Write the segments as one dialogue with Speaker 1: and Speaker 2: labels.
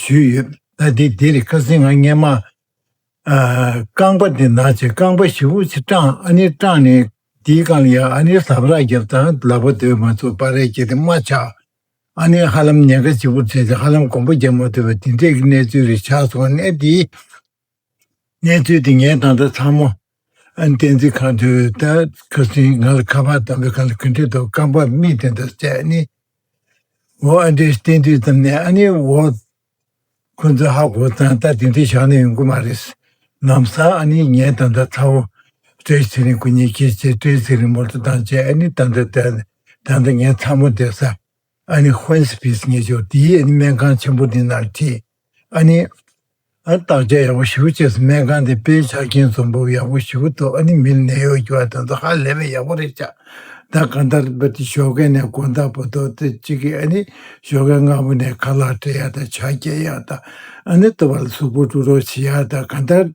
Speaker 1: ཞུས་ཡོད། ད་དེ་འདིར་བཀའ་སྲིད་ང་བརྙན་མ། རྐང་པ་འདི་ནག་ཆེ་རྐང་པ་བཞི་བོ་ཆེ་སྐྲངས་ཨ་ནེ་སྐྲངས་ནས་འདིའི་རྐང་ལ་ཡར་ཨ་ནེ་ཟབ་རགས་བརྒྱབ་དང་ལག་པ་སྡོད་མ་ཚུགས་པར་རས་བཅད་དེ་རྨ་ཆགས་ཨ་ནེ་ཧ་ལམ་ཉེན་ཁ་ལྕི་པོར་བྱས་ཏེ་ཧ་ལམ་གོམ་པ་རྒྱག་མ་ཐུབ་པ་འདི་འདྲས་ཀྱི་གནས་ཚུལ་རེ་ཆགས་སོང་ནས་འདིའི་གནས་ཚུལ་དེ་ངས་ད་ལྟ་ཚང་མ་ཨན་བསྟན་འཛིན་ཁང་དུ་ཁ་ཟིན་ང་ལ་ཁ་པར་དམ་པོ་གང་ལ་གུན་ཁྲི་དང་རྐང་པ་མིག་དེ་འདྲ་བཅད་ནས་འོ་ཨ་འདྲའི་བསྟན་དུས་ཙམ་ནས་ཨ་ནི་འོ། ཁོ་ཚོས་ཧ་གོ་ཙང་ད་དེ་འདྲའི་བཞག་ནས་ཡོང་གི་མ་རེད། ནམ་སང་ཨ་ནི་ངས་ད་ལྟ་ཚ་བོ་བཀྲས་ཚེ་རིང་གི་ཉེ་ཁྱེད་ཅེས་བཀྲས་ཚེ་རིང་མོར་ད་ལྟ་ངས་ཨ་ནི་ད་ལྟ་ད་ལྟ་ངས་ཚ་མོ་བསྡད་ས་ཨ་ནི་བྷན་སི་ཕིས་ངེས་ཤོག་དེའི་ཨ་ནི་སྨན་ཁང་ཆེན་པོ་འདི་ནར་ཁྲིད། ཨ་ནི། ཨ་ནི་བརྟག་དཔྱད་ཡག་པོ་ཞུ་གི་བྱས་སོང་སྨན་ཁང་དེ་དཔེའི་ཆ་རྐྱེན་བཟོ་འབུབ་ཡག་པོ་ཞུ་གི་འདུག་ཨ་ནི་མིར་ནད་གཡོག་རྒྱུ་བ་དེ་ཚོ་ཧ་ལས་པའི་ཡག་པོ་རེད་ཆགས་ད་གང་ལྟར་བ་དེ་ཞོ་ཁའི་ནས་དགོན་བདག་པོ་དོ་དེ་གཅིག་གིས་ཨ་ནི་ཞོ་ཁའི་སྔ་པོ་ནས་ཁ་ལག་བྲེ་ཡག་དང་བྱ་སྐྱལ་ཡག་དང་ཨ་ནི་ལྟོ་བ་ལ་ཟུག་པོ་བཀྲུ་རོགས་བྱེད་ཡག་དང་གང་ལྟར།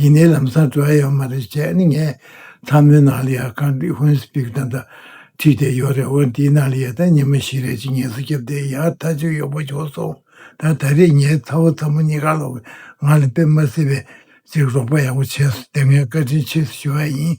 Speaker 1: ཡིན་ནའི་ལམ་སང་འགྲོ་ཨེ་ཡོད་མ་རེད་བྱས་ནི་ངས་ཚ་མོའི་ནང་ལ་ཡ་ཁང་འདི་ཧོན་སི་པིག་དང་འདྲ་ཁྲིད་བསྡད་ཡོད་རེད་འོན་འདིའི་ནང་ལ་ཡ་ད་ཉི་མ་བཞི་རེད་ཅིག་ངལ་གསོ་རྒྱབ་བསྡད་ཡ་ད་ཅིག་གཡོག་པོ་བྱུང་སོང་ད་ད་རེས་ངའི་ཚ་བོ་ཚ་མོ་གཉིས་ཀ་ལོག་པའི་ངང་ལ་ཕེབས་མ་སྲིད་པས་ཅིག་རོགས་པ་ཡག་པོ་བྱས་སོ་དེ་ངས་བཀའ་དྲིན་ཆེ་ཞུ་བ་ཡིན།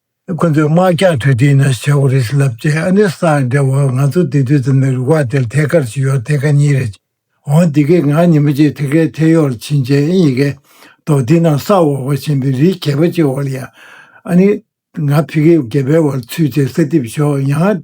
Speaker 1: ཁོ་ཚོས་དམག་རྒྱག་དུས་དེ་ན་བྱ་བ་རེད་ལབ་ཀྱི་ཨ་ནེ་ས་ཨ་འདྲ་བོ་ང་ཚོ་དེ་དུས་ཙམ་ནས་རུ་ཁག་དེར་ཐད་ཀར་ཞིག་ཡོད་ཐད་ཀ་གཉིས་རེད། འོང་དེ་གས་ང་ཉིན་མོ་གཅིག་ཐད་ཀའི་ཐད་ཡོག་ལ་ཕྱིན་རྗེས་ཨེ་ཡིན་གས་འདུག་དེ་ན་ས་འོག་པ་ཆེན་པོའི་རིའི་གད་པ་གཅིག་འོག་ལ་ཡ། ཨ་ནེ། ང་ཕི་གས་གད་པའི་འོག་ལ་ཚུད་དེ་ས་གཏིབས་ཞོག་ཡང།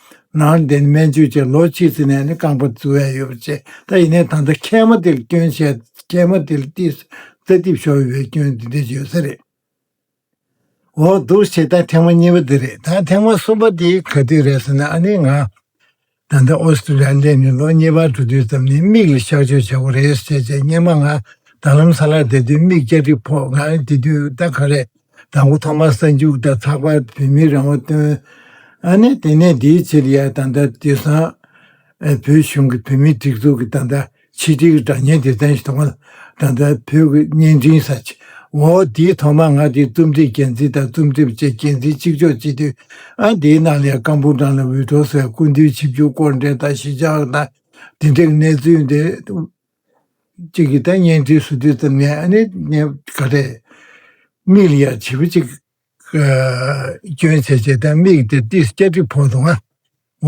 Speaker 1: ནང་བསྟན་སྨན་བཅོས་བཅས་ལོ་གཅིག་ཚེ་ནས་ནི་རྐང་པ་བཙུར་བས་ཡོད་པ་བྱས་ད་ཡིན་ནའི་ད་ལྟ་མཁལ་མ་དེར་སྐྱོན་བྱས་ཏེ་མཁལ་མ་དེ་ལ་ཏིས་རྩ་གཏིབས་ཤོར་བས་སྐྱོན་དེ་འདི་ཡོད་ས་རེད། འོ་འདུག་བྱས་ད་ཐེངས་མ་གཉིས་པ་དེ་རེད་ད་ཐེངས་མ་གསུམ་པ་དེ་ག་དུས་རེད་ཟེར་ན་ཨ་ནི་ང་ད་ལྟ་ཨོ་སི་ཀྲི་ལི་ཡར་སླེབས་ནས་ལོ་གཉིས་པ་དྲུག་དུས་ཙམ་ནས་མིག་ལ་གཤག་བཅོས་བྱ་དགོས་རེད་ཟེར་བྱས་བྱས་སྙེ་མ་ང་ད་ལམ་ས་ལར་བསྡད་དུས་མིག་སྐྱ་གྲིབ་ཕོག་ང་དེ་དུས་ད་ག་རེད་དང་པོ་ཐོག་མར་གསར་འཇུག་དང་ཚགས་པར་བོད་མིའི་རང་དབང་བཏོན། ཨ་ནི་དེ་ནས་དེའི་ཕྱིར་ཡ་ད་ལྟ་དེ་སང་བོད་གཞུང་གི་བོད་མིའི་སྒྲིག་འཛུགས་ཀྱི་ད་ལྟ་ཕྱི་དྲིལ་གྱི་སྒྲ་སྙན་སྡེ་ཚན་ཞིག་ཐོག་མར་ད་ལྟ་བོད་ཀྱི་བརྙན་འཕྲིན་ས་ཆ་འོ་དེའི་ཐོག་མར་ང་དེའི་རྩོམ་སྒྲིག་འགན་འཛིན་དང་རྩོམ་སྒྲིག་བཅས་འགན་འཛིན་གཅིག་ལྕོགས་བྱེད་དུས་ཨ་དེའི་ནང་ལས་ཀ་འབུམ་ཕྲག་ལ་འུད་སྒྲོག་སོགས་ཀུན་འདུས་ཆིབས་བསྒྱུར་སྐོར་འགྲེལ་དང་ཞི་འཇགས་དང་བདེ་འཇགས་གནས་ཚུལ་འདི་གཅིག་གིས་ད་བརྙན་འཕྲིན་ཟུར་བསྡུས་ཙམ་ནས་ཨ་ནེ་བརྙན་ག་རེད། མིག་ལ་ཡང་བྱིས་པ་གཅིག་སྐྱོན་ཆེ་ཆེ་དང་མིག་དེ་ཏིས་སྐྱ་གྲིབ་ཕོག་འདུག་ཨ།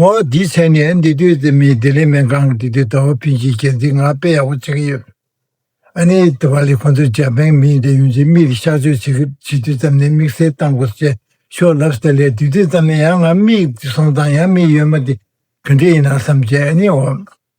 Speaker 1: འོ་འདི་ཆད་ནས་འདི་ལྟོས་ཙེ་མིན་ལྡི་ལི་སྨན་ཁང་གི་འདི་ལྟོས་ཟླ་བ་ཕིན་གྱིས་རྒྱལ་མཚན་ངག་དཔེ་ཡག་པོ་བྱེད་ཀྱི་ཡོད། ཨ་ནེ་ལྟོས་པ་ལས་ཁོང་ཚོ་འཇར་པན་མིན་དེ་ཡོང་རྗེས་མིག་ལ་གཤག་བཅོས་བྱེད་དུས་ཙམ་ནས་དམིགས་བསལ་བཏང་དགོས་ཞེས་ཤོག་ལབ་སྟེ་ལས་དུས་དུས་ཙམ་ནས་ཡང་ང་མིག་སོང་དང་ཡང་མིག་ཡོད་མ་དེ་ག་འདྲས་ཡིན་ནམ་བསམ་རྗེས་ཨ་ནེ་འོ།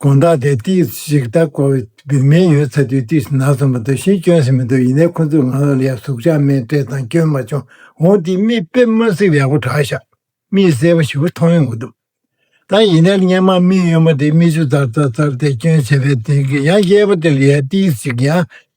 Speaker 1: དགོན་བདག་དེ་ཏིས་ཞིག་ལྟ་སྐོར་བརྒྱུད་མེད་ཡོད་ཚ་དུས་ཏིས་ནག་ཚོམ་པ་འདུག་ཤིང་སྐྱོན་ཟིན་མི་འདུག་ཡིན་ནའི་ཁོ་ཚོས་ང་ལ་ལས་གཟུགས་ཆགས་མེད་སྤྲས་དང་སྐྱོན་མ་བྱུང་འོང་དེ་མིས་དཔེ་དམར་བསྲེགས་ཡག་པོ་གྲགས་ཤག་མིས་གསལ་པོ་ཞིབ་པོ་མཐོང་ཡོང་གི་འདུག་ད་ཡིན་ནའི་སྙན་མ་མིག་གཡོན་མ་དེ་མིག་ཆུ་ཙར་ཙར་ཙར་དེ་སྐྱོན་བྱས་པའི་དེང་གི་ཡང་གཡས་པ་དེ་ལ་ཡ་ཏིས་ཞིག་ཡང་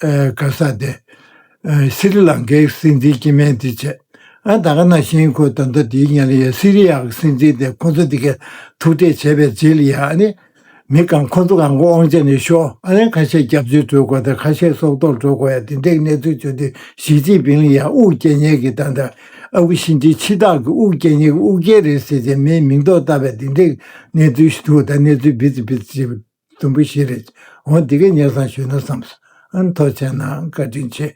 Speaker 1: ག་ས་དེ། སི་རི་ལང་ཀའི་སྲིད་འཛིན་སྐྱེས་དམན་དེ་བྱས། ཨ་ད་ག་ན་བཞིན་ཁོས་ད་ལྟ་དེའི་ཉལ་ཡའི་སི་རི་ཡ་གི་སྲིད་འཛིན་དེ་ཁོ་ཚོ་འདི་གས་ཐུག་འཕྲད་བྱས་པའི་རྗེས་ལ་ཡ་ནི། མི་གང་ཁོ་ཚོ་གང་གོ་ཨང་བྱས་ནས་ཤོ་ཨ་ལན་ཁ་ཤས་སྐྱབས་བཅོལ་སྤྲོད་དགོས་དང་ཁ་ཤས་སྲོག་ཐོག་འགྲོ་དགོས་ཡ་དེ་འདྲའི་གནས་ཚུལ་བྱུང་དུས་ཞི་ཅིན་ཕིང་ལ་ཡ་དབུགས་སྐྱེ་ཉལ་གི་ད་ད་ཨ་ཁུ་ཤིན་ཅིན་ཕྱི་ཐག་གི་དབུགས་སྐྱེ་ཉལ་གི་དབུགས་སྐྱེ་རེད་ཟེར་བྱས་མིའི་མིང་ཐོག་བཏབ་པའི་དེ་འདྲའི་གནས་ཚུལ་ཞིག་ཐུག་ད་གནས་ཚུལ་བིརྩི་བིརྩི་བྱེད། དུམ་བུ་བཞི་རེད། འོང་འདི་གའི་ཉལ་སང་ཞུས་ན་བསམས། ཨང་ཐོག་བྱས་ནའང་བཀའ་དྲིན་ཆེ།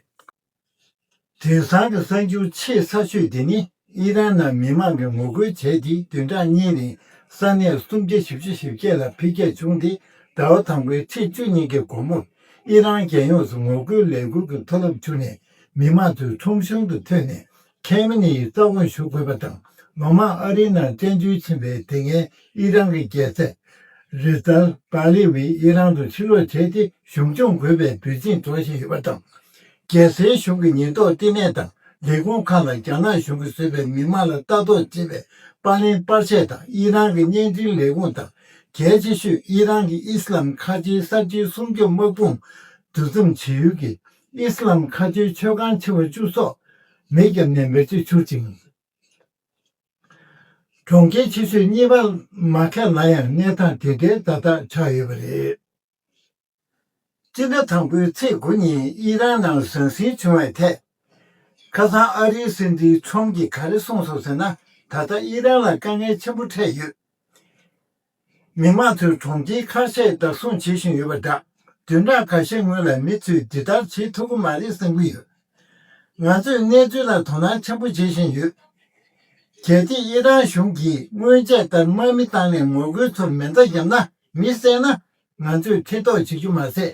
Speaker 1: དེང་སང་གི་གསར་འགྱུར་ཆེས་ཚགས་ཤོས་དེ་ནི་ཨི་རན་ནང་མི་མང་གིས་ངོ་རྒོལ་བྱས་ཏེ་བདུན་ཕྲག་གཉིས་རིང་ས་གནས་སུམ་བརྒྱ་བཞི་བཅུ་བཞི་བརྒྱད་ལ་འཕེལ་རྒྱས་བྱུང་སྟེ་ཟླ་བ་དང་པོའི་ཚེས་བཅུ་གཉིས་ཀྱི་དགོང་མོར་ཨི་རན་རྒྱལ་ཡོངས་སུ་ངོ་རྒོལ་ལས་འགུལ་གྱི་མཐོ་རླབས་འཕྱུར་ནས་མི་མང་ཚོས་ཁྲོམ་གཞུང་དུ་ཐོན་ནས་ཁེམ་མེ་ནེ་ཡིས་རྩ་དགོངས་ཞུ་དགོས་པ་དང་ལོ་མང་ཨ་རིའི་ནང་བཙན་འཛུལ་ཕྱིན་པའི་དེ་སྔའི་ཨི་རན་གྱི་རྒྱལ་སྲས། Reza Pahlavi། ཨི་རན་དུ་ཕྱིར་ལོག་བྱས་ཏེ་གཞུང་སྐྱོང་དགོས་པའི་དུས་ཆེན་འཚོགས་བཞིན་ཡོད་པ་དང། རྒྱལ་སའི་གཞུང་གི་ཉེན་རྟོག་བསྟི་གནས་དང་ལས་ཁུངས་ཁག་ལ་རྒྱ་ནག་གཞུང་གིས་བཟོས་པའི་མི་མང་ལ་ལྟ་རྟོག་བྱེད་པའི་པར་ལེན་པར་ཆས་དང་ཨི་རན་གྱི་བརྙན་འཕྲིན་ལས་ཁུངས་དང་གལ་ཆེ་ཤོས་ཨི་རན་གྱི་ཨི་སི་ལམ་ཁ་ཆེའི་གསར་བརྗེའི་སྲུང་སྐྱོབ་དམག་དཔུང་འདུ་འཛོམས་བྱེད་ཡུལ་གྱི་ཨིསི་ལཱམ་མཁའ་སྤྱོད་མཆོད་ཁང་ཆེ་བ་བཅུ་སོགས་མེས་རྒྱབ་ནས་མེར་གཅོད་འཕྱུར་ཅིང། གྲོང་ཁྱེར་ཆེ་ཤོས་གཉིས་པ་མ་ཁེ་ལ་ཡང་གནས་སྟངས་དེ་འདྲའི་བརྡ་རྟགས་ཆགས་ཡོད་པ་རེད། སྤྱི་ཟླ་དང་པོའི་ཚེས་དགུ་ཉིན་དབྱི་རན་ནང་ཟང་ཟིང་བྱུང་བའི་ཐད། ཁ་སང་ཨ་རིའི་སྲིད་འཛིན་ཁྲོམ་གྱིས་ག་རེ་གསུངས་སོང་ཟེར་ན་ད་ལྟ་དབྱི་རན་ལ་དཀའ་ངལ་ཆེན་པོ་འཕྲད་ཡོད། མི་དམངས་ཚོས་གྲོང་ཁྱེར་ཁ་ཤས་བདག་བཟུང་བྱེད་བཞིན་ཡོད་པ་འདྲ། དུད་འགྲངས་ག་ཤས་སྔོན་ལ་མི་ཚོས་འདི་ལྟར་བྱེད་ཐུབ་ཀྱི་མ་རེད་བསམ་གྱི་ཡོད། ང་ཚོས་གནས་ཚུལ་ལ་དོ་སྣང་ཆེན་པོ་བྱེད་བཞིན་ཡོད། གལ་ཏེ་ཨི་རན་གཞུང་གིས་སྔོན་ཆད་ལྟར་དམག་མི་བཏང་ནས་ངོ་རྒོལ་ཚོར་མེ་མདའ་བརྒྱབ་ན་མི་བསད་ན། ང་ཚོས་ཐེ་གཏོགས་བྱེད་རྒྱུ་མ་ཟད།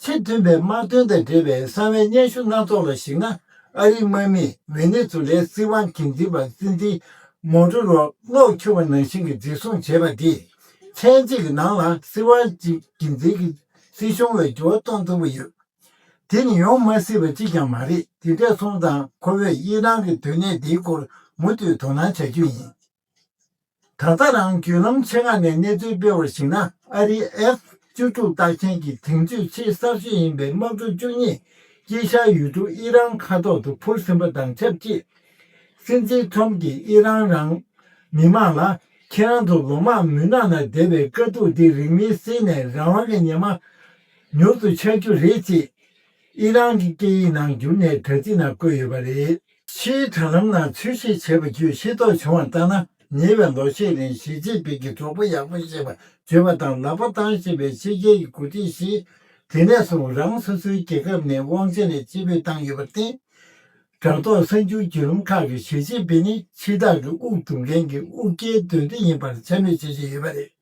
Speaker 1: ཚེ་བདུན་པའི་དམག་དོན་དང་འབྲེལ་བའི་གསང་བའི་སྙན་ཞུ་སྣ་ཚོགས་ལ་གཞིགས་ན་ཨ་རིའི་དམག་མིས་ཝེ་ནེ་ཛུ་ལའི་སྲིད་དབང་གིང་འཛིན་པ་སྲིད་འཛིན་མོ་རོ་རོ་གློག་འཁྱུད་པ་ནང་བཞིན་གྱི་འཛིན་བཟུང་བྱས་པ་དེས་ཚན་གཅིག་གི་ནང་ལ་སྲིད་དབང་གིང་འཛིན་གྱི་སྲིད་གཞུང་ལ་འགྱུར་བ་གཏོང་ཐུབ་པ་ཡོད། དེ་ནི་ཡོང་མ་སྲིད་པ་གཅིག་ཀྱང་མ་རེད་དེ་འབྲས་སྤུངས་དང་ཁོ་བོས་དབྱི་ནང་གི་དོན་གནད་འདིའི་སྐོར་མུ་མཐུད་དོ་སྣང་བྱ་རྒྱུ་ཡིན། ད་ལྟ་རང་བརྒྱུད་ལམ་ཆེ་ཁག་ནས་གནས་ཚུལ་སྤེལ་བར་གཞིགས་ན་ཨ་རིའི F བཅུ་དྲུག་བཏགས་མཁན་གྱི་དེང་དུས་ཆེས་གསར་ཤོས་ཡིན་པའི་དམག་གྲུ་བཅུ་གཉིས་དཀྱིལ་ཤར་ཡུལ་གྲུ་ཨི་རན་ཁ་ཐོག་ཏུ་འཕུར་ཟིན་པ་དང་ཆབས་ཅིག་སྲིད་འཛིན Trump གྱིས་ཨི་རན་རང་མི་དམངས་ལ་ཁྱེད་རང་ཚོ་ལོ་མང་མུན་ནག་ནང་བསྡད་པའི་དཀའ་སྡུག་འདི་རིགས་མི་སེལ་ནས་རང་དབང་གི་ཉི་མ་མྱུར་དུ་འཆར་རྒྱུ་རེད་ཅེས་ཨི་རན་གྱི་སྐད་ཡིག་ནང་བསྒྱུར་ནས་དྲ་ཚིགས་ནང་བཀོད་ཡོད་པ་རེད། ཕྱིའི་དྲ་ལམ་ནང་འཚོལ་བཤེར་བྱས་པ་བརྒྱུད་ཤེས་རྟོགས་བྱུང་བ་ལྟར་ན་ཉེ་བའི་ལོ་ཤས་རིང་ཞི་ཅིན་ཕིན་གྱིས་གྲོགས་པོ་ཡག་པོ་ཞེས་པ་བརྗོད་པ་དང་ལག་པ་བཏང་བཞིན་པའི་ཕྱི་རྒྱལ་གྱི་འགོ་ཁྲིད་བཞི། དེ་ནས་བཟུང་རང་སོ་སོའི་རྒྱལ་ཁབ་ནས་དབང་ཆ་ལས་ཕྱི་ཕུད་བཏང་ཡོད་པར་བརྟེན། དྲ་ཐོག་གསར་འགྱུར་བརྒྱུད་ལམ་ཁག་གིས་ཞི་ཅིན་ཕིན་ནི་ཕྱི་ཐག་གི་དབུགས་རྡུང་མཁན་གྱི་དབུགས་སྐྱེལ་འདོན་རྩིས་ཡིན་པར་འཚེ་མེད་བྱེད་བཞིན་ཡོད་པ་རེད།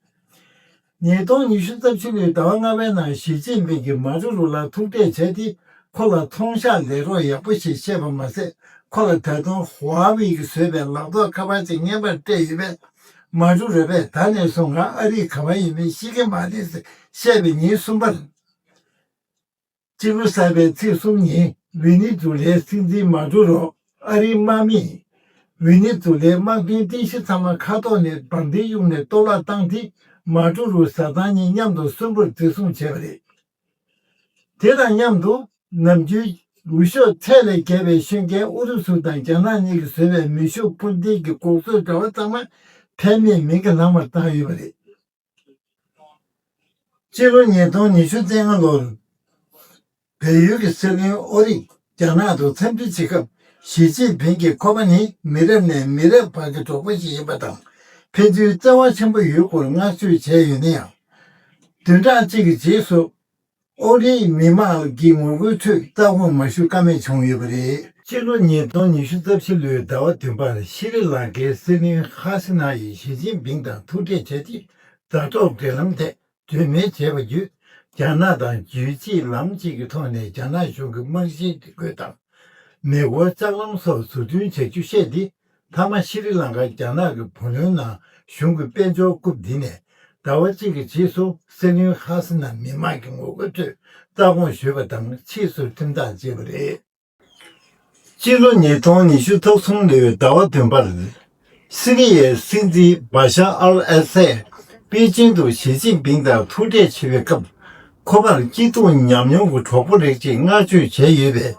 Speaker 1: ཉིས་སྟོང་ཉི་ཤུ་རྩ་བཅུ་ལོའི་ཟླ་བ་ལྔ་པའི་ནང་ཞི་ཅིན་ཕིང་གིས་མ་རུ་རུ་ལ་ཐུག་འཕྲད་བྱས་ཏེ་ཁོ་ལ་མཐོང་བཤགས་ལས་རོགས་ཡག་པོ་ཞིག་བཤད་པ་མ་ཟད་ཁོ་ལ་ད་དུང་ཧོ་ཨ་བྷི་གིས་བཟོས་པའི་ལག་ཐོགས་ཁ་པར་ཅིག་བརྙན་པར་སྤྲད་ཡོད་པས། མ་རུ་རུ་བས་ད་ནས་བཟུང་ང་ཨ་རིའི་གང་བ་ཡིན་མིན་ཤེས་ཀྱི་མ་རེད་ཟེར་བཤད་པའི་ཉིན་གསུམ་པར། སྤྱི་བོ་གསལ་བའི་ཚིགས་གསུམ་ནི། འོད་ནི་དུ་ལའི་སྲིད་འཛིན་མ་འགྲོ་རོགས་ཨ་རིའི་དམག་མིས། འོད་ནི་དུ་ལའི་དམག་དཔོན་རྟེན་གཞི་ཚང་མ་ཁ་ཐོག་ནས་འབར་མདེལ་གཡུགས་ནས་གཏོར་བརླག་བཏང་སྟེ་མ་འགྲོ་རུ་བཟའ་ཚང་གཉིས་མཉམ་དུ་གསོན་པོར་བརྩི་སྲུང་བྱས་པ་རེད། དེ་དང་མཉམ་དུ། ནམ་རྒྱུན། འུར་ཤོག་ཚད་ལས་བརྒལ་བའི་ཤོད་མཁན་ཨུ་རུ་སུ་དང་རྒྱ་ནག་གཉིས་ཀྱིས་བཟོས་པའི་མེ་ཤུགས་འཕུར་མདེལ་གྱི་འགོག་རྩོད་དྲ་བ་ཚང་མ་ཕན་མེད་མིང་གི་ལྷག་མར་བཏང་ཡོད་པ་རེད། སྤྱི་ལོ་ཉིས་སྟོང་ཉི་ཤུ་ཚེས་ལྔ་ལོར་བལ་ཡུལ་གྱི་སྲིད་བློན་ཨོ་རིག་རྒྱ་ནག་ཏུ་འཚམས་འདྲི་བྱེད་སྐབས་ཞི་ཅིན་ཕིང་གིས་ཁོ་པ་ནི་མི་རབས་ནས་མི་རབས་བར་གྱི་གྲོགས་པོ་ཞིག་ཡིན་པ་དང་ཕན་ཚུན་བརྩེ་བ་ཆེན་པོ་ཡོད་སྐོར་བསྔགས་བརྗོད་བྱས་ཡོད་ན་ཡང། བདུན་ཕྲག་གཅིག་གི་རྗེས་སུ་ཨོ་གླིང་གི་མི་མང་གི་ངོ་རྒོལ་ཁྲོད་ཀྱི་ལྟ་དགོངས་མ་ཞུ་ཀ་མེད་བྱུང་ཡོད་པ་རེད། སྤྱི་ལོ་ཉིས་སྟོང་ཉི་ཤུ་རྩ་བཞི་ལོའི་ཟླ་བ་བདུན་པར་ཤི་རི་ལང་ཀའི་སྲིད་བློན་ཧ་སི་ནཱ་ཡིས་ཞི་ཅིན་ཕིང་དང་ཐུག་འཕྲད་བྱས་རྗེས་དྲ་ཐོག་འབྲེལ་ལམ་ཐད་གྲོས་མོལ་བྱས་པ་བརྒྱུད་རྒྱ་ནག་དང་རྒྱུད་གཅིག་ལམ་གཅིག་གི་ཐོག་ནས་རྒྱ་ནག་གཞུང་གི་དམག་གཞིའི་སྒྲིག་བཀོད་དང་མེ་འཁོར་ལྕགས་ལམ་སོགས་བཟོ་སྐྲུན་བྱ་རྒྱུ་བཤད་དེ། མཐའ་མ་ཤི་རི་ལངྐ་རྒྱ་ནག་གི་བུ་ལོན་ནང་གཞུང་གི་དཔལ་འབྱོར་རྐུབ་འདི་ནས་ཟླ་བ་གཅིག་གི་རྗེས་སུ་སྲིད་བློན་ཧ་སི་ན་མི་མང་གི་ངོ་རྒོལ་ཁྲོད་རྩ་དགོངས་ཞུས་པ་དང་ཕྱིས་སུ་ཁྲིམས་ཐག་བཅད་པ་རེད། སྤྱི་ལོ་ཉིས་སྟོང་ཉི་ཤུ་ཐོག་གསུམ་ལོའི་ཟླ་བ་བདུན་པར་སི་རི་ཡའི་སྲིད་འཛིན་བཱ་ཤ་ཨལ་ཨ་སད་པེ་ཅིང་དུ་ཞི་ཅིན་ཕིང་དང་ཐུག་འཕྲད་བྱེད་པའི་སྐབས་ཁོ་པར་སྐྱིད་སྡུག་མཉམ་མྱོང་གི་གྲོགས་པོ་རེག་ཅེས་བསྔགས་བརྗོད་བྱས་ཡོད་པས་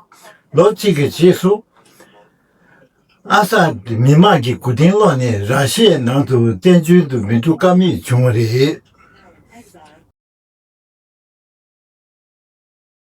Speaker 1: ལོ་གཅིག་གི་རྗེས་སུ། ཨ་ས་དེ་མི་དམངས་ཀྱི་སྒུག་རྟེན་ལོག་ནས་ར་ཤའི་ནང་དུ་བཙན་བྱོལ་དུ་མི་འགྲོ་ཀ་མེད་བྱུང་བ་རེད།